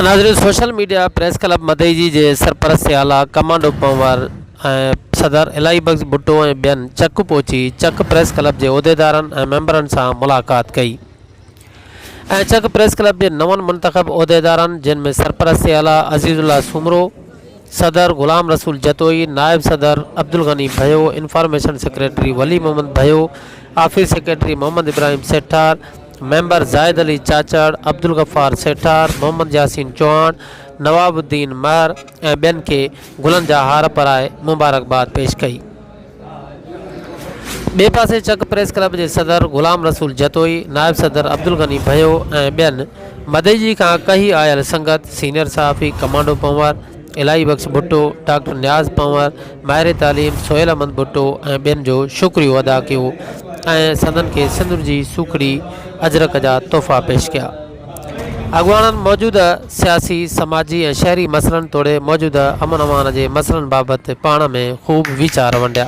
ناظرين social media press club Madeji جي سرپرستي اعليٰ ڪمانڊو پنهور ۽ صدر الاهي بخش ڀٽو ۽ ٻين چڪ پهچي چڪ پريس ڪلب جي عهديدارن ۽ ميمبرن سان ملاقات ڪئي ۽ چڪ پريس ڪلب جي نون منتخب عهديدارن جن ۾ سرپرستي اعليٰ عزيز الله سومرو صدر غلام رسول جتوئي نائب صدر Abdul Ghani Bhayo information secretary Wali Muhammad Bhayo office secretary Muhammad Ibrahim Sethar member Zahid Ali Chachar, Abdul Ghaffar Sethar, Muhammad Yasin Chohan, Nawab Uddin Mahar ۽ ٻين کي گلن جا هار پرائي مبارڪباد پيش ڪئي. ٻئي پاسي چڪ پريس ڪلب جي صدر غلام رسول جتوئي، نائب صدر عبدالغني ڀيو ۽ ٻين مدئجي کان ڪهي آيل سنگت، سينيئر صحافي ڪمانڊو پنهور، الاهي بخش ڀٽو، ڊاڪٽر نياز پنور، ماهر تعليم سهيل احمد ڀٽو ۽ ٻين جو شڪريو ادا ڪيو ۽ سندن کي سندر جي سوکڙي اجرڪ جا تحفا پيش ڪيا. اڳواڻن موجوده سياسي، سماجي ۽ شهري مسئلن توڙي موجوده امن امان جي مسئلن بابت پاڻ ۾ خوب ويچار ونڊيا.